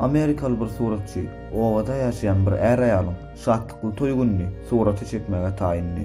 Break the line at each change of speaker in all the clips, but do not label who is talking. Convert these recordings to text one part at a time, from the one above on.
Amerikaly bir suratçy obada ýaşaýan bir är-aýalyň şatlykly toý gününi surata çekmäge taýyndy.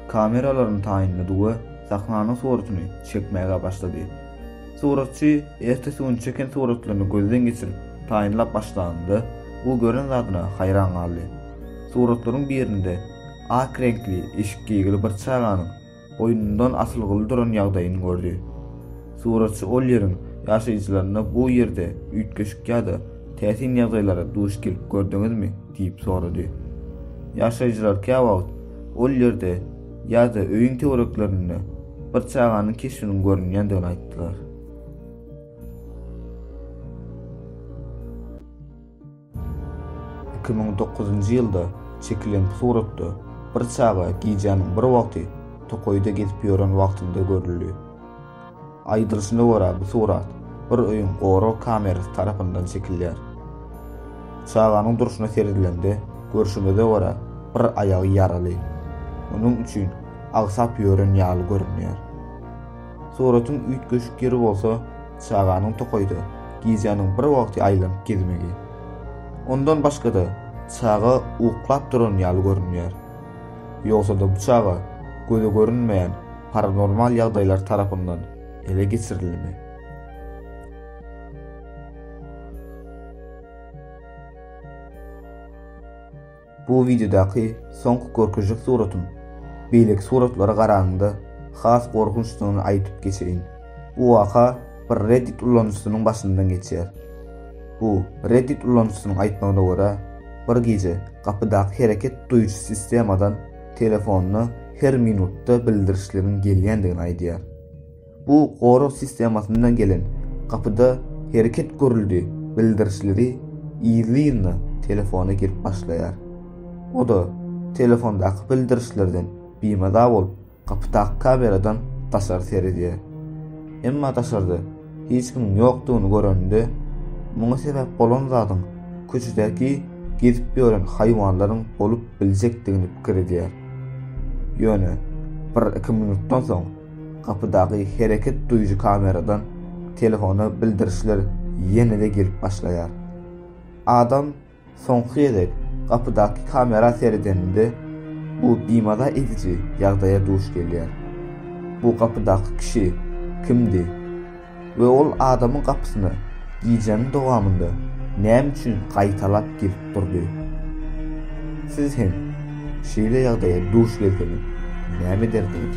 kameralaryny taýynlady we sahnanyň suratyny çekmäge başlady. Suratçy ertesi gün çeken suratlaryny gözden geçirip, taýynlap başlanynda, ol gören zadyna haýran galdy. Suratlaryň birinde ak reňkli eşik geýgili bir çaganyň boýnundan asylgyly duran ýagdaýyny gördi. Suratçy ol ýeriň ýaşaýjylaryna bu ýerde üýtgeşik ýa-da täsin ýagdaýlara duş gelip gördüňizmi? Diýip sorady. Ýaşaýjylar käwagt ol ýerde ýa-da öýüň töwereklerinde bir çaganyň keşbiniň görünýändigini aýtdylar. Iki müň dokuzynjy ýylda çekilen suratda bir çaga gijäniň bir wagty tokaýda gezip ýören wagtynda görüldi. Aýdylyşyna görä, bu surat bir öýüň gorag kamerasy tarapyndan çekilýär. Çaganyň durşuna seredilende, görşümize görä, bir aýagy ýaraly. Onuň üçin agsap ýören ýaly görünýär. Suratyň üýtgeşik ýeri bolsa, çaganyň tokaýda gijäniň bir wagty aýlanyp gezmegi. Ondan başga-da, çaga uklap duran ýaly görünýär. Ýogsa-da bu çaga göze görünmeýän paranormal ýagdaýlar tarapyndan ele geçirilimi? Bu wideodaky soňky görkezjek suratym beýleki suratlara garanyňda has gorkunçdygyny aýdyp geçeýin. Bu waka bir Reddit ulanyjysynyň başyndan geçýär. Bu, Reddit ulanyjysynyň aýtmagyna görä, bir gije gapydaky hereket duýujy sistemadan telefonyna her minutda bildirişleriň gelýändigini aýdýar. Bu gorag sistemasyndan gelen gapyda hereket görüldi bildirişleri yzly-yzyna telefona girip başlaýar. O-da telefondaky bildirişlerden bimaza bolup, Gapydaky kameradan daşary seredýär. Emma daşarda hiç kimiň ýokdugyny görende, muňa sebäp bolan zadyň köçedäki gezip ýören haýwanlaryň bolup biljekdigini pikir edýär. Ýöne bir-iki minutdan soň gapydaky hereket duýujy kameradan telefona bildirişler ýene-de gelip başlaýar. Adam Soňky gezek gapydaky kamera seredenimde, bu bimaza ediji ýagdaýa duş gelýär. Bu gapydaky kişi kimdi we ol adamyň gapysyna gijäniň dowamynda näme üçin gaýtalap gelip durdy? Siz hem şeýle ýagdaýa duş gelseňiz näme ederdiňiz?